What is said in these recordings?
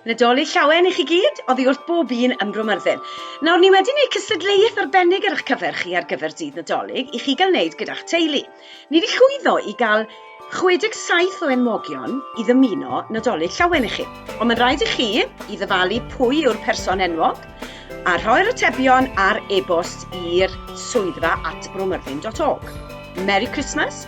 Nadolig llawen i chi gyd, oddi wrth bob un ym Bro Myrddin. Nawr, ni wedi gwneud cystadleuaeth arbennig ar eich cyfer chi ar gyfer dydd Nadolig i chi gael wneud gyda'ch teulu. Ni wedi llwyddo i gael 67 o enwogion i ddymuno Nadolig llawen i chi. Ond mae'n rhaid i chi i ddyfalu pwy yw'r person enwog a rhoi'r atebion ar e-bost i'r swyddfa at bromyrddin.org. Merry Christmas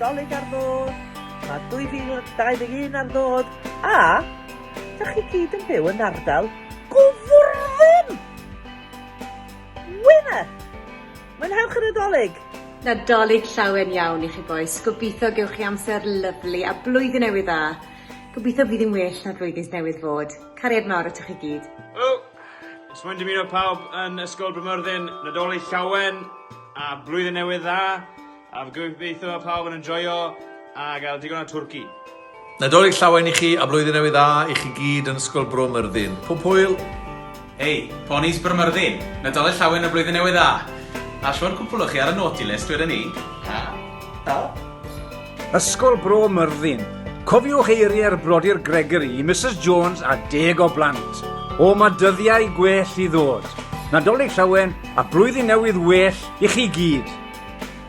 Nadolig ar ddod, mae 2021 ar ddod, a da chi gyd yn byw yn ardal Gwfrwyn! Wyna! Mwynhewch y Nadolig! Nadolig llawen iawn i chi bois, gobeithio gewch chi amser lyfli a blwyddyn newydd dda. Gobeithio fydd hi'n well na'r flwyddyn newydd fod. Cariad mawr atoch chi gyd. Helo! Jyst moyn dymuno pawb yn Ysgol Brynmyrddin Nadolig Llawen a Blwyddyn Newydd Dda a fy gobeithio bod pawb yn enjoio a gael digon o twrci. Nadolig Llawen i chi a Blwyddyn Newydd Dda i chi gyd yn Ysgol Bro Myrddin. Pob hwyl! Hei, ponis Bwrmyrddin! Nadolig Llawen a Blwyddyn Newydd Dda! A shwd cwpwl o chi ar y naughty list wedyn 'ny? Ha? Ha? Ysgol Bro Myrddin. Cofiwch eiriau'r Brodyr Gregory i Misus Jones a deg o blant. O, mae dyddiau gwell i ddod. Nadolig Llawen a Blwyddyn Newydd well i chi gyd!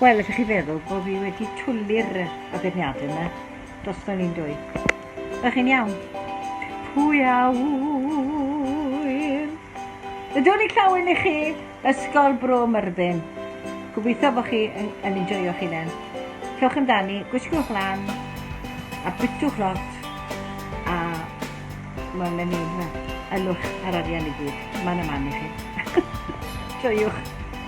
Wel, ydych chi feddwl bod fi wedi twli'r addurniadau yma dros fel un dwy? Ydych chi'n iawn? Pwy a wyr? Ydw ni clywed i chi, Ysgol Bro Myrddin. Gobeithio bod chi yn, yn enjoyo'ch hunain. Cewch amdani, gwisgwch lan, a bytwch lot, a mae'n mynd i'n ylwch ar arian i gyd. Mae'n y man i chi. Joiwch.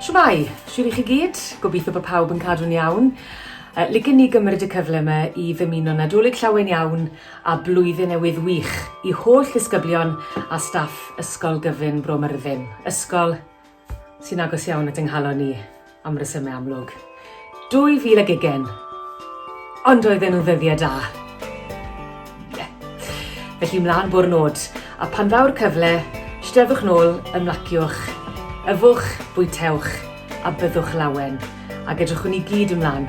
Shwmae! Shwt i chi gyd? Gobeithio bod pawb yn cadw'n iawn. Uh, Licen ni gymryd y cyfle yma i ddymuno Nadolig llawen iawn a blwyddyn newydd wych i holl ddisgyblion a staff Ysgol Gyfun Bro Myrddin, ysgol sy'n agos iawn at yng nghalon ni. Am resymau amlwg. 2000 ag ugen. Ond oedden nhw'n ddyddiau da. Ie. Felly mlaen bo'r nod. A pan ddaw'r cyfle, steddwch nôl, ymlaciwch, yfwch, bwytewch, a byddwch lawen. Ac edrychwn ni gyd ymlaen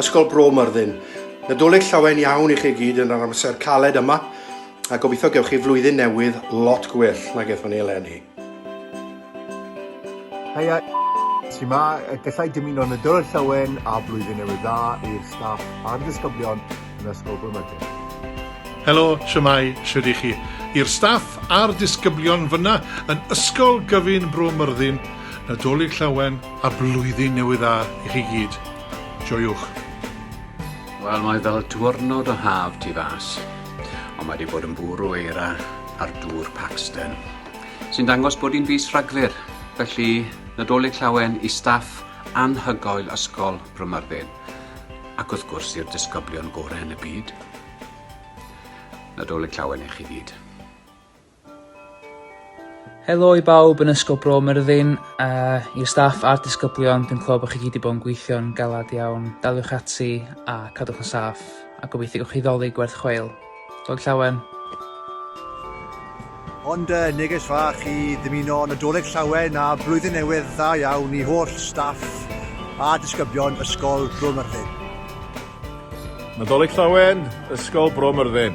Ysgol Bro Myrddin. Nadolig llawen iawn i chi gyd yn yr amser caled yma, a gobeithio gewch chi flwyddyn newydd lot gwell nag ethon ni eleni. Heia, ti ma, gallai dymuno Nadolig llawen a blwyddyn newydd dda i'r staff a'r disgyblion yn Ysgol Bro Myrddin. Helo, shwmae, shwd i chi? I'r staff a'r disgyblion fyna yn Ysgol Gyfun Bro Myrddin, Nadolig llawen a blwyddyn newydd dda i chi gyd. Joiwch! Wel, mae fel diwrnod o haf tu fas, ond mae wedi bod yn bwrw eira ar dŵr Paxton, sy'n dangos bod hi'n fis Rhagfyr, felly Nadolig Llawen i staff anhygoel Ysgol Brymyrddin, ac wrth gwrs i'r disgyblion gorau yn y byd. Nadolig Llawen i chi gyd. Helo i bawb yn Ysgol Bro Myrddin, a i'r staff a'r disgyblion, dwi'n clywed bod chi gyd wedi bod yn gweithio'n galad iawn. Daliwch ati a cadwch yn saff, a gobeithio gwych chi ddoli gwerth chweil. Dod llawen! Ond uh, neges fach i ddymuno Nadolig Llawen a Blwyddyn Newydd dda iawn i holl staff a disgyblion Ysgol Bro Myrddin. Nadolig Llawen, Ysgol Bro Myrddin.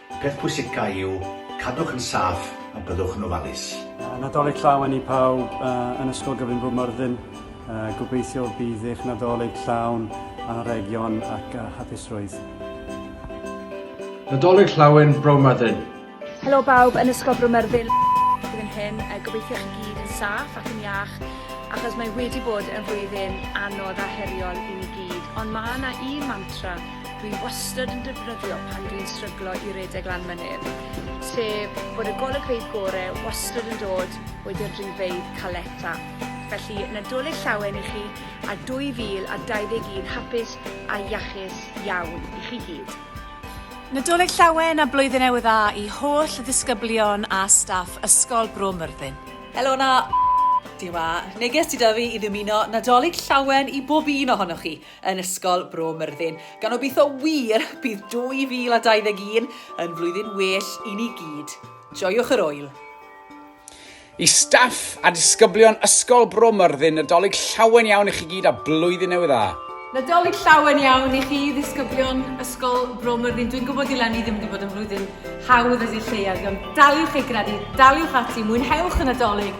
Peth pwysica yw cadwch yn saff a byddwch yn ofalus. Nadolig Llawen i pawb yn Ysgol Gyfun Bryn Myrddin. Gobeithio bydd eich Nadolig llawn anrhegion ac hapusrwydd. Nadolig Llawen Bro Myrddin! Helo bawb yn Ysgol Bro Myrddin blwyddyn hyn. Gobeithio chi gyd yn saff ac yn iach achos mae wedi bod yn flwyddyn anodd a heriol i ni gyd. Ond mae yna un mantra Dwi wastad yn defnyddio pan dwi'n stryglo i redeg lan mynydd, sef bod y golygfeydd gore wastad yn dod wedi'r dringfeydd caleta. Felly, Nadolig Llawen i chi a 2021 hapus a iachus iawn i chi gyd. Nadolig Llawen a Blwyddyn Newydd Dda i holl ddisgyblion a staff Ysgol Bro Myrddin. Helo 'na! Dyma neges sydd 'da fi i ddymuno Nadolig Llawen i bob un ohonoch chi. yn Ysgol Bro Myrddin, gan obeithio wir bydd 2021 yn flwyddyn well i ni gyd. Joiwch yr oel! I staff a disgyblion Ysgol Bro Myrddin, Nadolig llawen iawn i chi gyd a blwyddyn newydd dda! Nadolig llawen iawn i chi ddisgyblion Ysgol Bro Myrddin. Dwi'n gwybod i Lenny ddim wedi bod yn flwyddyn hawdd as i'r lleiad, ond daliwch ei gredu, daliwch ati, mwynhewch y Nadolig,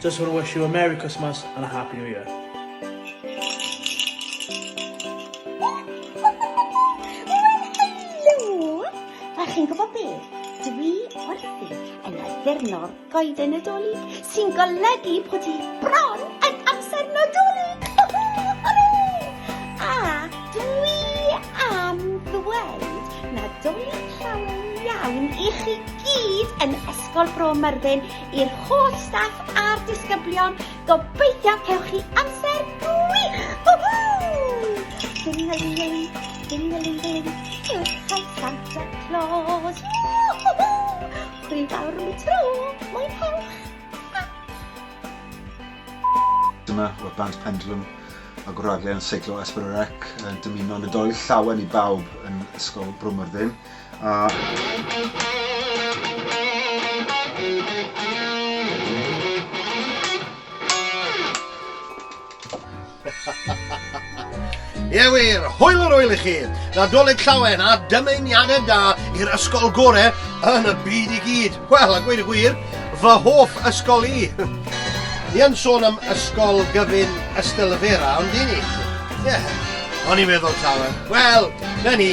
Just want to wish you a Merry Christmas and a Happy New Year. A chi'n gwybod be? Dwi wrthi yn addurno'r goeden nadolig sy'n golygu bod hi bron yn amser nadolig! A dwi am ddweud nadolig llawn iawn i chi gyd yn Ysgol Bro Myrddin I'r holl staff a'r disgyblion, gobeithio cewch chi amser gwych! Ding-a-ling-a-ling, ding-a-ling-a-ling, cyrchau Santa Claus! Hwyl fawr am y tro, mwynhewch! Dyma oedd band Pendulum ag wragedd yn seiclo Esborough Rec yn dymuno Nadolig Llawen i bawb yn Ysgol Bro Myrddin. Ie wir, hwyl yr wyl i chi! Nadolig llawen a dymuniadau da i'r ysgol gorau yn y byd i gyd. Wel, a gweud y gwir, fy hoff ysgol i. Ni yn sôn am ysgol gyfun Ystalyfera, ond dyn ni? Ie, o'n i'n meddwl llawen. Wel, na ni.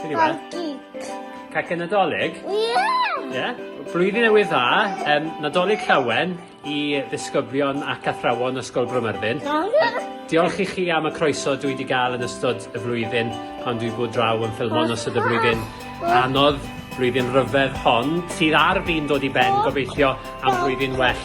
Be yw e? Cacen. Cacen Nadolig? Ie! Yeah. Ie? Yeah? Blwyddyn newydd dda, um, Nadolig llawen i ddisgyblion ac athrawon Ysgol Bromyrddin. Diolch i chi am y croeso dwi wedi gael yn ystod y flwyddyn pan dwi bod draw yn ffilmon ystod y flwyddyn anodd, flwyddyn rhyfedd hon, sydd ar fi'n dod i ben, gobeithio am flwyddyn well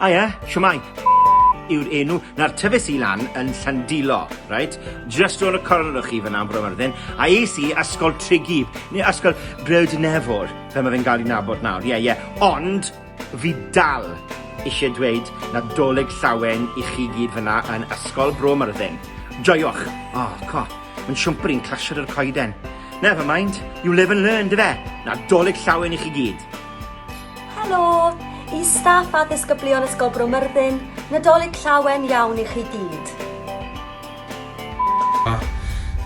A ie, shwmae! yw'r enw, nawr tyfes i lan yn Llandilo, reit, just round y cornel o chi fyna yn Bro Myrddin, a es i Ysgol Tregear, neu Ysgol Brewd Nefwr, fel mae fe'n cael ei nabod nawr, ie, yeah, ie, yeah. ond fi dal eisiau dweud Nadolig Llawen i chi gyd fyna yn Ysgol Bro Myrddin. Joiwch! O, oh, co, mae'n siwmpr i'n clasio dy'r coeden. Never mind, you live and learn, dy fe? Nadolig Llawen i chi gyd! Helo! I staff a ddisgyblion Ysgol Bro Myrddin, Nadolig llawen iawn i chi gyd. Ah,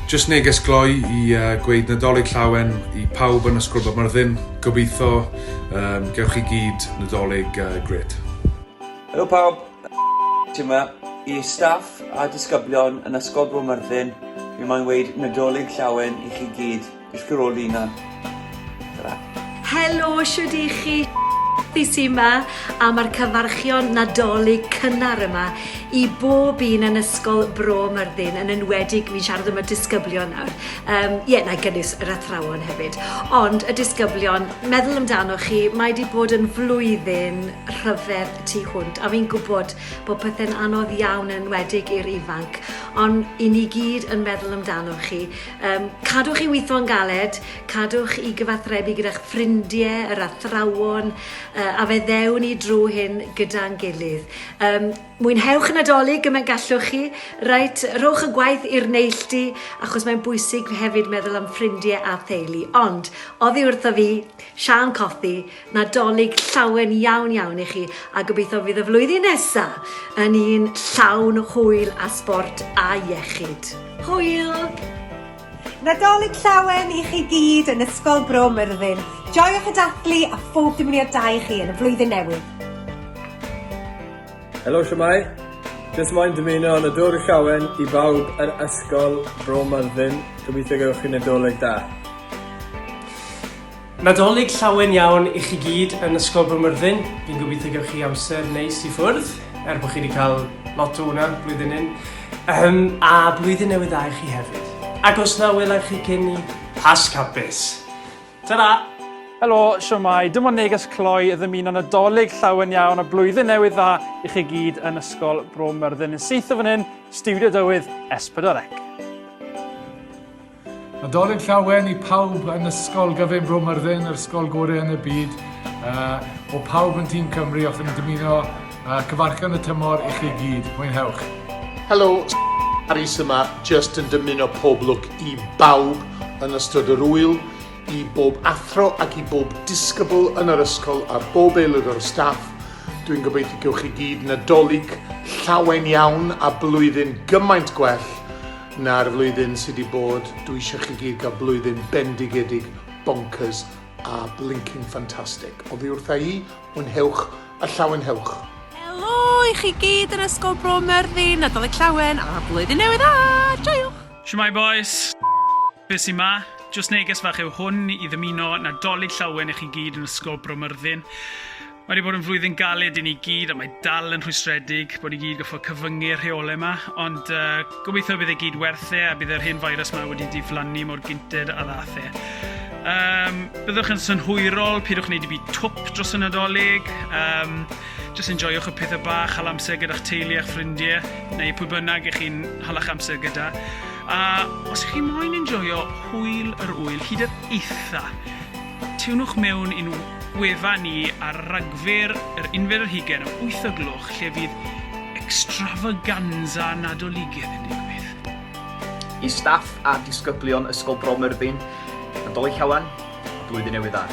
just neges gloi i uh, gweud Nadolig llawen i pawb yn Ysgol Bro Myrddin. Gobeithio um, gewch chi gyd Nadolig uh, gret. Helo pawb, ti yma. I staff a disgyblion yn Ysgol Bro Myrddin, fi mae'n weid Nadolig llawen i chi gyd. Is Carolina. Tra. Helo, siwyd i chi? Fi sy yma a mae'r cyfarchion nadolig cynnar yma i bob un yn ysgol Bro Myrddin yn enwedig fi'n siarad am y disgyblion nawr. Um, ie, yeah, na i gynnwys yr athrawon hefyd. Ond y disgyblion, meddwl amdano chi, mae wedi bod yn flwyddyn rhyfedd tu hwnt a fi'n gwybod bod pethau'n anodd iawn yn enwedig i'r ifanc. Ond i ni gyd yn meddwl amdano chi. Um, cadwch i weithio yn galed, cadwch i gyfathrebu gyda'ch ffrindiau, yr athrawon, uh, a fe ddewn ni drwy hyn gyda'n gilydd. Um, mwynhewch y Nadolig gymaint gallwch chi, reit, rhowch y gwaith i'r neilltu, achos mae'n bwysig hefyd meddwl am ffrindiau a theulu. Ond, oddi wrtho fi, Sian Cothi, Nadolig llawen iawn iawn i chi a gobeithio fydd y flwyddyn nesa yn un llawn hwyl a sbort a iechyd. Hwyl! Nadolig llawen i chi gyd yn Ysgol Bro Myrddin. Joiwch y dathlu a phob dymuniad da i chi yn y flwyddyn newydd. Helo shwmae? Jyst moyn dymuno Nadolig llawen i bawb yr Ysgol Bro Myrddin, gobeithio gewch chi Nadolig da. Nadolig llawen iawn i chi gyd yn Ysgol Bro Myrddin. Fi'n gobeithio gewch chi amser neis i ffwrdd, er bod chi wedi cael lot o hwnna blwyddyn hyn. Um, a blwyddyn newydd dda i chi hefyd. Ac os na welai chi cyn ni, pas capus. Ta-ra! Helo, siwmai, dim ond neges cloi ddymuno nadolig llawen iawn a blwyddyn newydd dda i chi gyd yn Ysgol Bro Myrddin yn syth o fan hyn, Studio Dywydd S4C. Nadolig Llawen i pawb yn Ysgol Gyfun Bro Myrddin, yr ysgol gorau yn y byd. Uh, o pawb yn tîm Cymru, os ydym yn dymuno uh, cyfarchan y tymor i chi gyd. Mwynhewch. Helo, Harry Syma, just yn dymuno pob lwc i bawb yn ystod yr wyl, i bob athro ac i bob disgybl yn yr ysgol a bob aelod o'r staff. Dwi'n gobeithio gewch chi gyd nadolig llawen iawn a blwyddyn gymaint gwell Na'r flwyddyn sy 'di bod, dwi isio chi gyd gael blwyddyn bendigedig, bonkers a blinking fantastic. Oddi wrtha i, mwynhewch a llawenhewch! Helo i chi gyd yn Ysgol Bro Myrddin, Nadolig Llawen a Blwyddyn Newydd Dda! Joiwch! Shwmae bois! Be sy 'ma? Jyst neges fach yw hwn i ddymuno Nadolig Llawen i chi gyd yn Ysgol Bro Myrddin. Mae wedi bod yn flwyddyn galed i ni gyd a mae dal yn rhwystredig bod ni gyd goffo cyfyngu'r rheolau yma, ond uh, gobeithio bydd e gyd werth e a bydd yr hen virus yma wedi diflannu mor gynted a ddath e. Um, byddwch yn synhwyrol, pidwch wneud i fi twp dros y nadolig. Um, just enjoywch y pethau bach, hal amser gyda'ch teulu a'ch ffrindiau, neu pwy bynnag ych chi'n halach amser gyda. A os ych chi moyn enjoyo hwyl yr wyl, hyd yr eitha, Tynnwch mewn i'n wefan ni ar Ragfyr, yr unfed ar hugain am wyth o gloch lle fydd extravaganza Nadoligedd yn digwydd. I staff a disgyblion Ysgol Bro Myrddin, Nadolig Llawen a Blwyddyn Newydd Dda.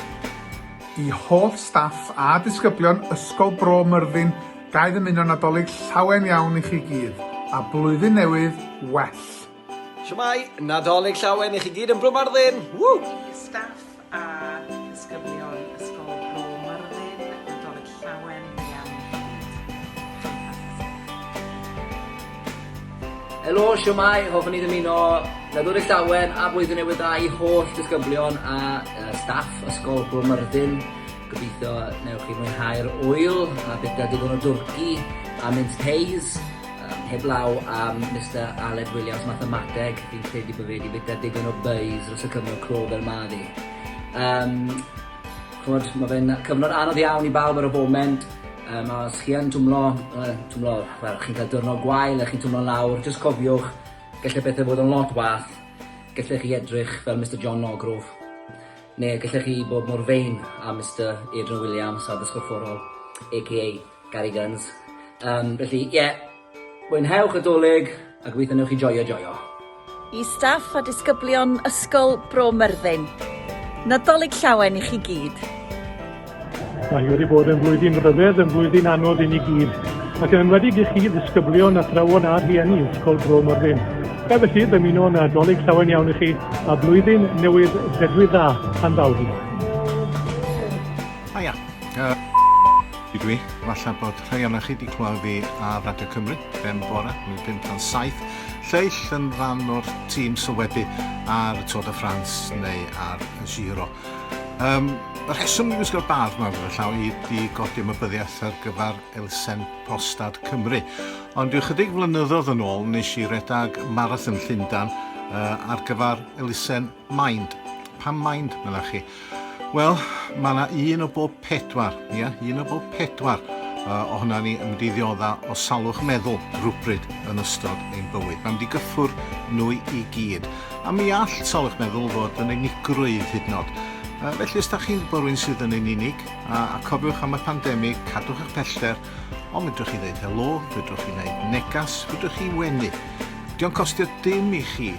I holl staff a disgyblion Ysgol Bro Myrddin, ga i ddymuno Nadolig Llawen iawn i chi gyd, a Blwyddyn Newydd well! Shwmae, Nadolig Llawen i chi gyd yn Bro Myrddin! Woo! I staff a disgyblion Ysgol Bro Myrddin, Nadolig Llawen i chi gyd. Helo, shwmae, hoffwn i ddymuno Nadolig Llawen a Blwyddyn Newydd Dda i holl disgyblion a staff Ysgol Bro Myrddin. Gobeithio newch chi mwynhau'r ŵyl a byta digon o dwrci a mince pies. Heblaw am Mister Aled Williams Mathemateg, fi'n credu bod fe wedi bwyta digon o bei's dros y cyfnod clo fel ma fi. Um, chwod, mae fe'n cyfnod anodd iawn i bawb ar y foment, um, a os chi yn twmlo, uh, twmlo, wel, chi'n cael dyrnod gwael a chi'n twmlo lawr, jyst cofiwch, gallai bethau fod yn lot wath, gallai chi edrych fel Mister John Nogrove, neu gallai chi bod mor fein a Mister Adrian Williams a ddysgorfforol, a.k.a. Gary Guns. Um, felly, ie, yeah, mwynhewch y dolyg a gweithio newch chi joio joio. I staff a disgyblion Ysgol Bro Myrddin. Nadolig llawen i chi gyd. Mae wedi bod yn flwyddyn rhyfedd, yn flwyddyn anodd i ni gyd, ac yn enwedig i chi ddisgyblion, athrawon a rhieni Ysgol Bro Morfyn. Fe felly, dymuno nadolig llawen iawn i chi, a blwyddyn newydd ledwydd dda, pan ddaw'r Ia. Ydw i. Falle bod rhai ohonoch chi wedi clywed fi ar Radio Cymru, ben bore, yn 5 tan 7, lleill yn rhan o'r tîm sylwebu ar y Tour de France neu ar y Giro. Um, y rheswm i wisgo'r bardd yma gyda llaw i di godi ymwybyddiaeth ar gyfer Elsen Postad Cymru. Ond yw chydig flynyddoedd yn ôl nes i redag marathon Llundan uh, ar gyfer Elsen Mind. Pam mind, meddach chi? Wel, mae yna un o bob pedwar, ia, yeah? un o bob pedwar uh, ohona ni yn mynd i ddiodda o salwch meddwl rhywbryd yn ystod ein bywyd. Mae'n mynd i gyffwr nhw i gyd. A mi all salwch meddwl fod yn unigrwydd hyd yn oed. Uh, felly, os da chi'n bod rwy'n sydd yn ein unig, a, a cofiwch am y pandemig, cadwch eich pellter, ond fydwch chi ddeud helo, fydwch chi wneud negas, fydwch chi wenu. Diolch costio dim i chi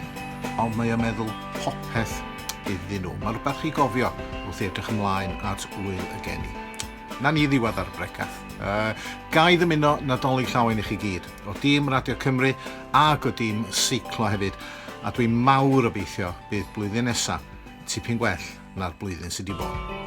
Ond mae o meddwl popeth iddyn nhw. Mae rhywbeth i gofio wrth i edrych ymlaen at wyl y geni. Na ni ddiwedd ar y brecath. Uh, ga i ddymuno Nadolig llawen i chi gyd, o dîm Radio Cymru ac o dîm Seiclo hefyd, a dwi mawr obeithio bydd blwyddyn nesa tipyn gwell na'r blwyddyn sydd wedi bod.